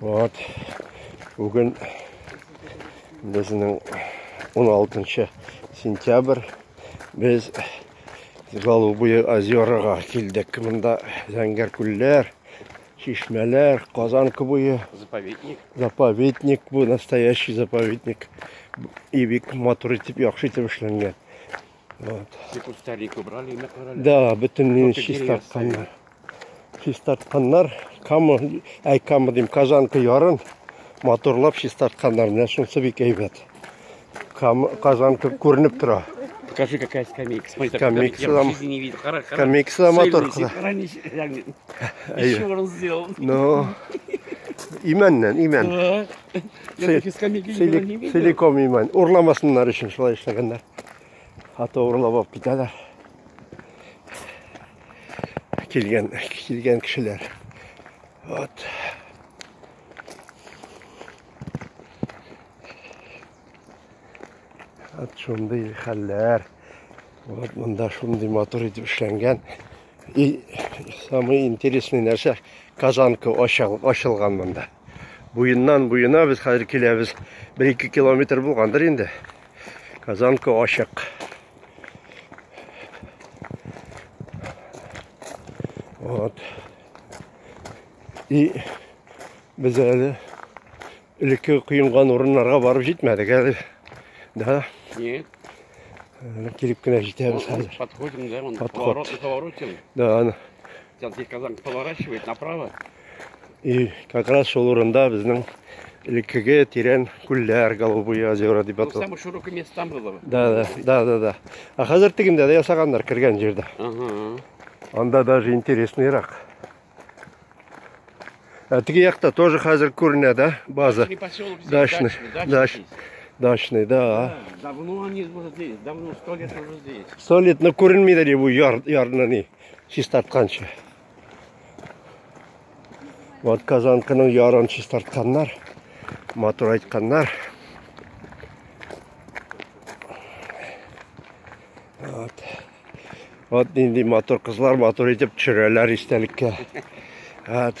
Вот. Бүген безнең 16 сентябрь. Без Голубые озерага килдек. Монда зәңгәр күлләр, чишмәләр, Казан буе. Заповедник. Заповедник бу настоящий заповедник. И бик матур итеп, яхшы итеп эшләнгән. Вот. Тик ул старик убрали, имя карали. Да, бөтен мине Только чистартканнар. Чистартканнар, кама, әй кама дим, казанка ярын, моторлап чистартканнар. Менә шунсы бик әйбәт. Кам, казанка күренеп тора. Покажи, какая скамейка. Смотри, так, Скамейка я там- в жизни не видел. Хара, хара. Скамейка там Сильный, мотор сильный. куда. Раньше, реально. Ай. Еще он сделал. Ну, имәннән, имән. Да. Силикон миман. Урламасыннар өчен шулай эшләгәннәр. Хата урлап алып китәләр. Килгән, килгән кешеләр. Вот. От шундый хәлләр. Вот монда шундый мотор итеп эшләнгән. И самый интересный нәрсә казанка ашылган монда. Буеннан буена без хәзер киләбез. 1-2 километр булгандыр инде. Казанка ачык. Вот. И без әле элекке коенган урыннарга барып җитмәдек әле. Да? Нет. Әле килеп кенә җитәбез хәзер. Подходим, да, он Подход. поворот, поворотим. Да, аны. Сейчас здесь казанка поворачивает направо. И как раз шул урында безнең элеккеге тирән күлләр, голубые озера дип атала. Самый широкий место там было. Да, да, да, да, да. А хәзер тегендә дә ясаганнар кергән җирдә. Ага. Анда даже интересныйрак. А теге якта тоже хәзер күренә, да, база? Дачный, дачный. Дачный, да. Давно они уже здесь, давно, сто лет уже здесь. Сто лет, но ну, күренмейді де бұл ярны не чистартканша. Вот казанкының ярын чистартканнар, мотор айтканнар. Вот. Вот нинди мотор кызлар мотор итеп төшерәләр истәлеккә. Вот.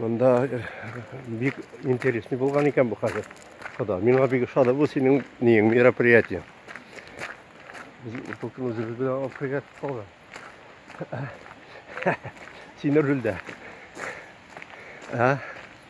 Монда э, бик интересный булган икән бу хәзер. Хода, миңа бик ошады бу синең ниең мероприятие. Без утылтын үзебез белән алып кергән калган. Син рульдә. А?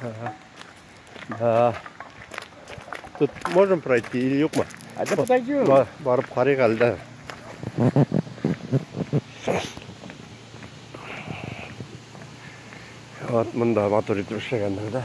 Ага. Да. Тут можем пройти или юк мы? А да подойдем. Бар, барып карыйк әле дә. Вот мында матур итеп эшләгәннәр да.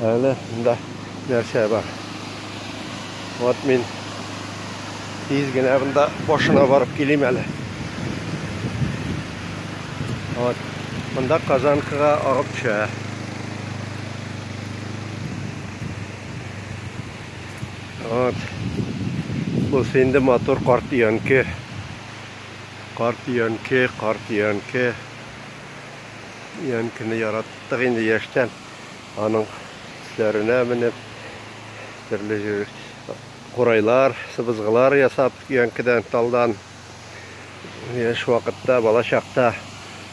Әле монда нәрсә бар? Вот мин тиз генә монда башына барып килим әле. Вот. Монда казанкага агып төшә. Вот. Бу инде матур карт өянке. Карт өянке, карт өянке. Өянкене ярат. Артык инде яшьтән аның өсләренә менеп, төрле курайлар, сыбызгылар ясап, өянкедән, талдан. Яшь вакытта, бала чакта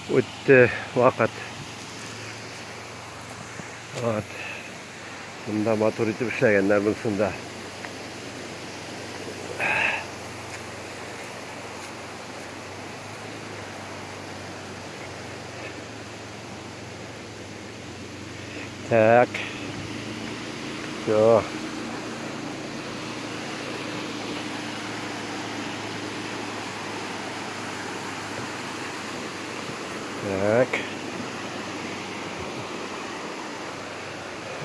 үтте вакыт. Вот. Монда матур итеп эшләгәннәр монсында. Так. Все. Так.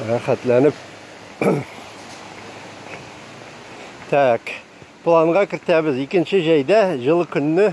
Рәхәтләнеп. Так. Планга кертәбез. Икенче җәйдә җылы көнне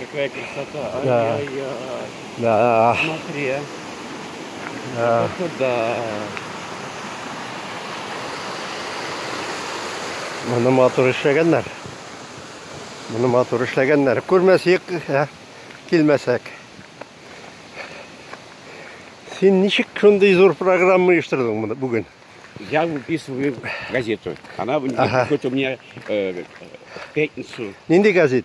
Какая красота. Ай, да. Ай, ай. Да. Смотри, а. Да. Вот сюда. Моны матур эшләгәннәр. Моны матур эшләгәннәр. Күрмәсек, ә, килмәсәк. Син ничек шундый зур программа оештырдың моны бүген? Я выписываю газету. Она ага. хоть у меня э, пятницу. Нинди газет?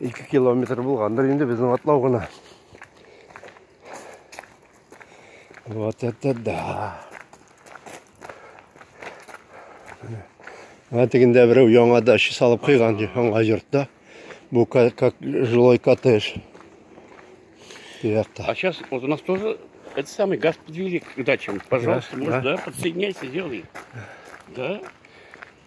Ике километр булгандыр инде безнең атлау гына. Вот это да. Менә тегендә берәү яңа дача салып куйган яңа йортта. Бу как жилой коттедж. А сейчас вот у нас тоже это самый газ подвели к дачам. Пожалуйста, да, может, да, да подсоединяйся, делай. Да.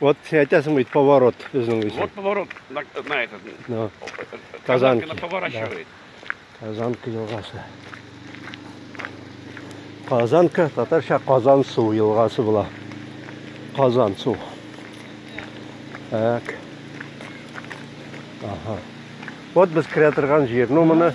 Вот син әйтәсең бит поворот безнең өчен. Вот поворот на, на этот. На. Казанки. Казанки поворачивает. Да. Казанка елгасы. Казанка татарча Казан су елгасы була. Казан су. Так. Ага. Вот без кирә торган җир. Ну моны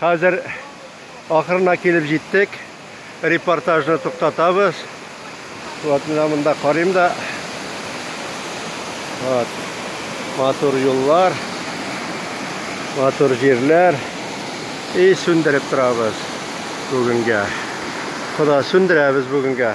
Хәзер ахырына килеп җиттек. Репортажны туктатабыз. Вот менә монда карыйм да. Вот. Матур юллар. Матур җирләр. И сүндереп торабыз бүгенгә. Кода сүндерәбез бүгенгә.